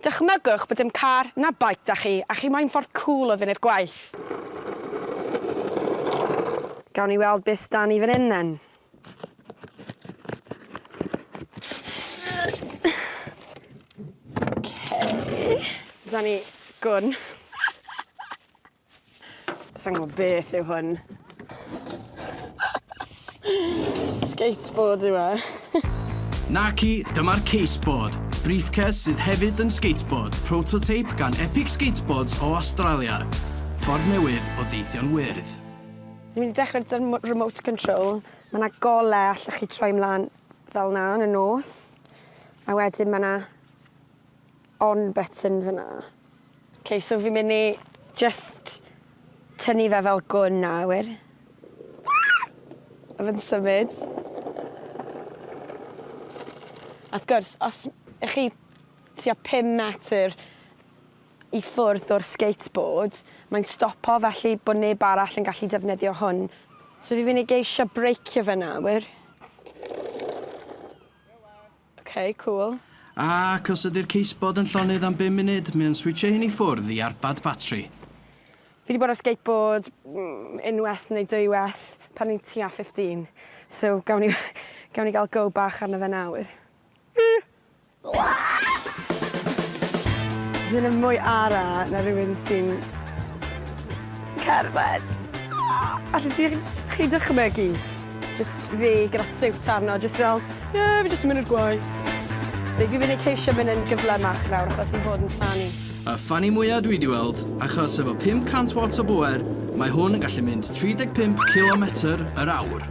Dychmygwch bod dim car na beic 'da chi a chi moyn ffordd cŵl o fynd i'r gwaith. Gawn ni weld be sy 'da ni fan hyn then. Ok. 'Da ni gwn. Sa'n gwybod beth yw hwn. Skateboard yw e. Naci, dyma'r Caseboard, briefcase sydd hefyd yn skateboard, prototype gan Epic Skateboards o Awstralia. Ffordd newydd o deithio'n wyrdd. Ni'n mynd i dechrau gyda'r remote control. Mae yna golau allwch chi troi mlaen fel yna yn y nos. A wedyn mae yna on button fyna. Ok so fi'n mynd i jyst tynnu fe fel gwn nawr. A fe'n symud. A wrth gwrs os y'ch chi tua pum metr i ffwrdd o'r skateboard mae'n stopo felly bod neb arall yn gallu defnyddio hwn. So fi'n mynd i geisio breicio fe nawr. Ok, cŵl. Ac os ydy'r ceisbod yn llonydd am bum munud, mae o'n switsio hyn i ffwrdd i arbad batri. Fi 'di bod ar skateboard unwaith neu dwywaith pan o'n i'n tua fifteen, so gawn ni gawn ni gael go bach arno fe nawr. Fi ddim yn mwy ara na rhywun sy'n cerdded. Allet ti chi dychmygu Jyst fi gyda siwt arno, jyst fel, ie, fi jyst yn mynd i'r gwaith. Fi fi'n mynd i ceisio mynd yn gyflymach nawr achos fi'n bod yn ffani. Y ffani mwya dwi di weld, achos efo 500 watts o bŵer, mae hwn yn gallu mynd 35 cilometr yr awr.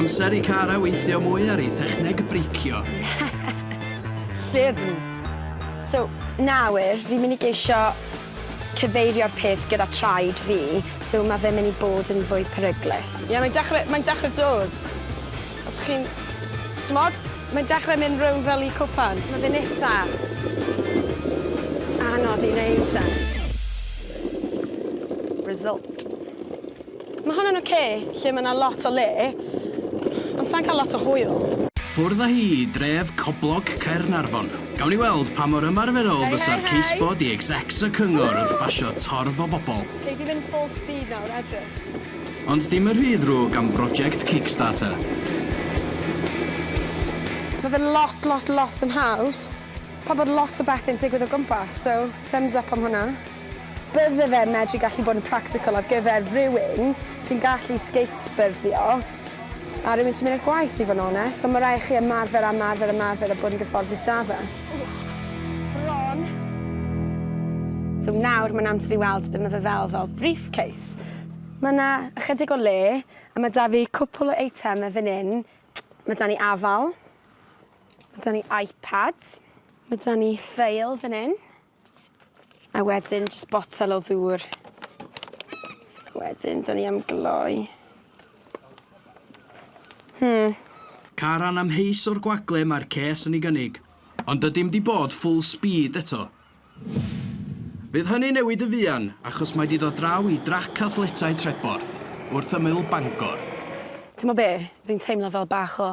Amser i Cara weithio mwy ar ei thechneg breicio. Yes! Siwrn! So, nawr, fi'n mynd i geisio cyfeirio'r peth gyda traed fi, so ma fe myn i bod yn fwy peryglus. Ie mae'n dechre mae'n dechre dod. Os bo chi'n t'mod? Mae'n dechre mynd rownd fel i cwpan. Ma fe'n itha anodd i neud e. Result. Mae hwn yn ocê, lle mae 'na lot o le, ond sai'n cael lot o hwyl. Ffwrdd â hi i dref Coblog Caernarfon. Gawn ni weld pa mor ymarferol fysa'r case-bod i execs y cyngor wrth basio torf o bobl. Gei di fynd full speed nawr, edrych. Ond dim yn rhy ddrwg am broject Kickstarter. Mae fe lot, lot, lot yn haws. Pabod lot o bethe'n digwydd o gwmpas, so thumbs up am hwnna. Bydde fe'n medru gallu bod yn practical ar gyfer rywun sy'n gallu skatebyrdio a rywun sy'n mynd i'r gwaith i fod yn onest, ond mae rhaid i chi ymarfer a ymarfer a ymarfer a bod yn gyfforddus 'da fe. Ron. So nawr mae'n amser i weld be mae fe fel fel briefcase. Mae 'na ychydig o le a mae 'da fi cwpwl o eitemau fan hyn. Mae 'da ni afal. Mae 'da ni iPad. Mae 'da ni ffeil fan hyn. A wedyn jyst botel o ddŵr. Wedyn 'dan ni am gloi. Hmm. Caran amheus o'r gwagle mae'r ces yn ei gynnig. Ond dydim 'di bod full speed eto. Fydd hynny'n newid yn fuan achos mae 'di dod draw i drac athletau Treborth, wrth ymyl Bangor. Timod be, fi'n teimlo fel bach o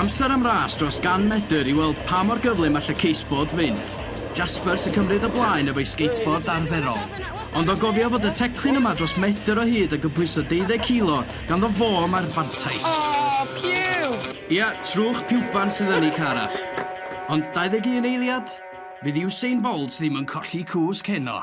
Amser am ras dros 100 medr i weld pa mor gyflym all y case-board fynd. Jasper sy'n cymryd y blaen efo'i skateboard arferol. Ond o gofio fod y teclyn yma dros medr o hyd a gypwyso 20 kilo, ganddo fo mae'r fantais. Oh, piw! Ia, trwch piwban sydd yn ei car a. Ond 21 eiliad? Fydd Usain Bolt ddim yn colli cwsg heno.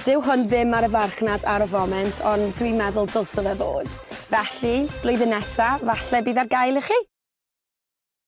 Dyw hwn ddim ar y farchnad ar y foment ond dwi'n meddwl dylse fe fod. Felly, blwyddyn nesa, falle bydd ar gael i chi!